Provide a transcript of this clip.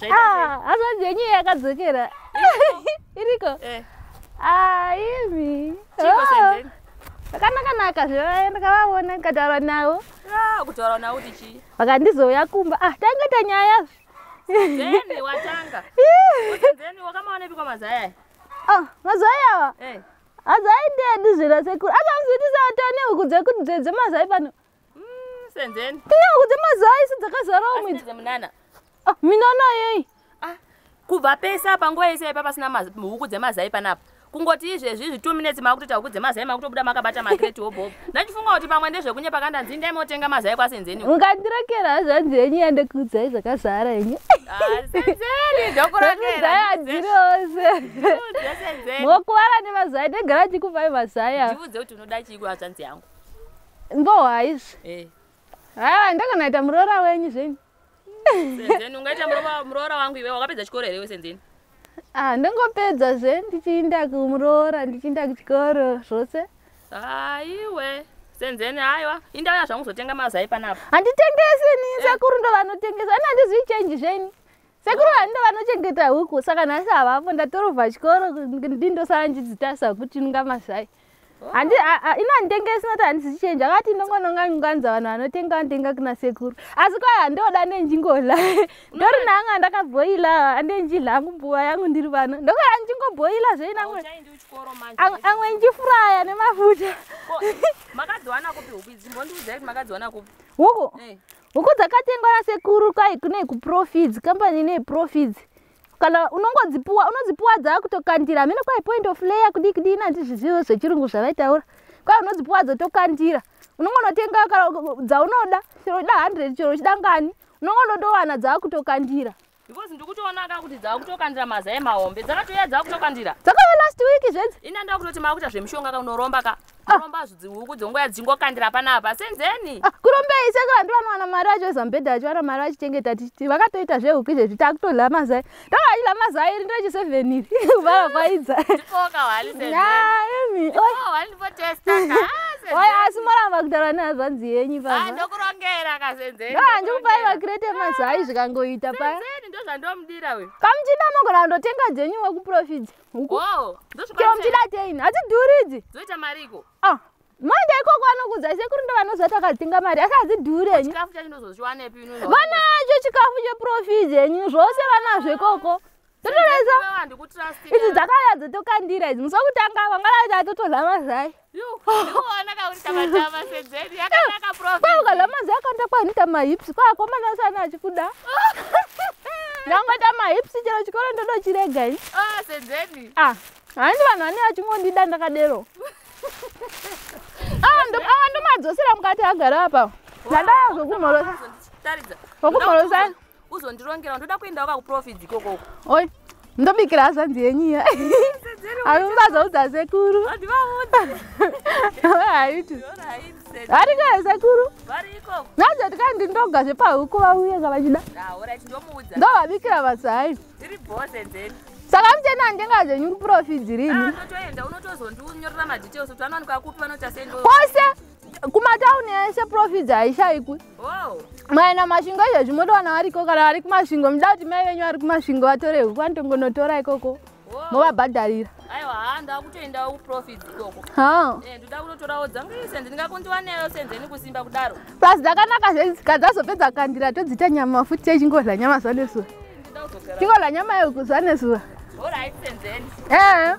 Ah, hazvanzi yenyu yakadzokera iriko eh. aimi ah, vakanakanaka zve ndakavaona ndikataura navo ah, kutaura navo kuti chii vakandizouya kumba ah tanga ta nyaya oh, mazai awa eh. hazai ndedu zvira sekuru akamzvitisa vatone huku dzekudze dzemazai pano Mm, senzeni. Iya kuti mazuva aisi dzakazarawo mwedzi. Senze munana. Ah, minana yei? Ah, kubva pese apa nguva yese ipa pasina huku dzemazai panapa. Kungoti izvezvi izvi 2 minutes makutoita huku dzemazai makutobuda makabata makreti hobhobo. Ndachifunga kuti pamwe ndezvekunyepa kanda ndzi ndai motenga mazai kwa senzeni. Ungandirekera hazvanzi yenyu yande kudzai zvakazara yenyu. Ah, senzeni ndokurekera. Senzeni adzirose. Senzeni. Mokuvara nemazai ndegara chikuvai mazai. Ndivudze kuti unoda chii kwa hazvanzi yangu. mbowa izvi eh. haa ndakanaita muroora wenyu zvenyu senzeni ungaita muroora wangu iwe wakapedza chikoro here iwe senzeni ah ndingopedza zve ndichiinda kumuroora ndichiinda kuchikoro zvose haiwe ah, senzeni haiwa indauya zvangu zotenga mazai panapa handitengesi ni eh. sekuru ndo vanotengesa ani handizvi change zvenyu sekuru ah. vani ndo vanochengeta huku saka nhasi havapo ndatorovha chikoro ndindosanjidzitasa kuti nunga mazai handi ina handitenge isina ti handisi change akati ndongononga nganza vanhu vanotenga vantenga kuna sekuru asi kwai handoda nenjingola ndori nanga ndakabhoila handenjila hangu mbuva yangu ndiri vano ndokaa njingobhoila zveina amwe njifuraya nemafuta huku eh. huku dzakatengwa nasekuru kwai kune kuprofits kambani nei profits kana unongodzipuwa unodzipuwa dzakutokandira hameno kwai point of layer kudii kudii nanzi zvizivo zvechirungu zvavaitaura kwai unodzipuwa dzotokandira unongonotenga kana dzaunoda chero uchida hundred chero uchida ngani unongonotowana dzakutokandira because ndikutoonaka kuti dzakutokandira mazai mahombe dzakatouya dzakutokandira dzakauya last week zvenzi ini andakutoti makuita zvemushonga ka unoromba ka Ah. kuromba zvudzi huku dzongoya dzingokandira panapa senzeni ah, kurombei saka vantu vanowana mari vacho zambedha vacho vana mari vachichengeta tichiti vakatoita zvehuku izvezvi takutodla mazai takachidla mazai iri ndochi seven iri kuvara kwaidza asi moramba kutaura nehazvanzi yenyu paandikupai vakirete mazai zvikangoita paya kamuchinda mogona kundotenga dzenyuwe kuprofita Huku. Wow, ndosvika Chero muchida teini, hadzidhuri idzi. Dzoita mariko. Ah, manje ikoko anokudza sekuru ndo vanoziva takatenga mari asi hadzidhuri henyu. Chikafu chacho ndozozviwanepi inozo. Vanacho chikafu cheprofit henyu zvose vanazvo ikoko. Totoreza. Ndikutrust. Idzi dzakaya dzotokandira idzi. Musokutanga vangala dzatotorha mazai. kwaukalamanzi akanda kwaanita mahips kwaakomana usana achikuda ndangoita mahips chero chikoro ndodo chirega ini ah, ah, handi vanhu vane vachingondida ndakadero ah, awa ndomadzosera mukati agara apa ndandaa zvokumhorosa zvokumhorosa uzondirongera ndoda kuenda waka kuprofits ikoko oi ndobikira hazvanzi yenyu iya avimubazaudza sekuru haiti variko here sekuru nazvati kai ndindoga zvepahuku vauye ka vachida ndovabikira vasai saka muchena handenga zvenyu kuprofits rini ah, kwose kumatauni ese profits haishaikwi maina masvingo izvezvi motowana variko kana vari kumasvingo muda kuti mai venyu vari kumasvingo vatore huku vanotongonotora ikoko movabhadharira aiwa haa ndakutoendawo kuprofits ikoko eh, ndoda kunotorawo dzangu ise ndingakundiwa neyo senzeni kusimba kudaro plus dzakanaka zvenzi kadzazopedza kandira todzita nyama futi yechingodla nyama zvanesuva chingodla nyama yekuzuva nesuva All right, then. Yeah.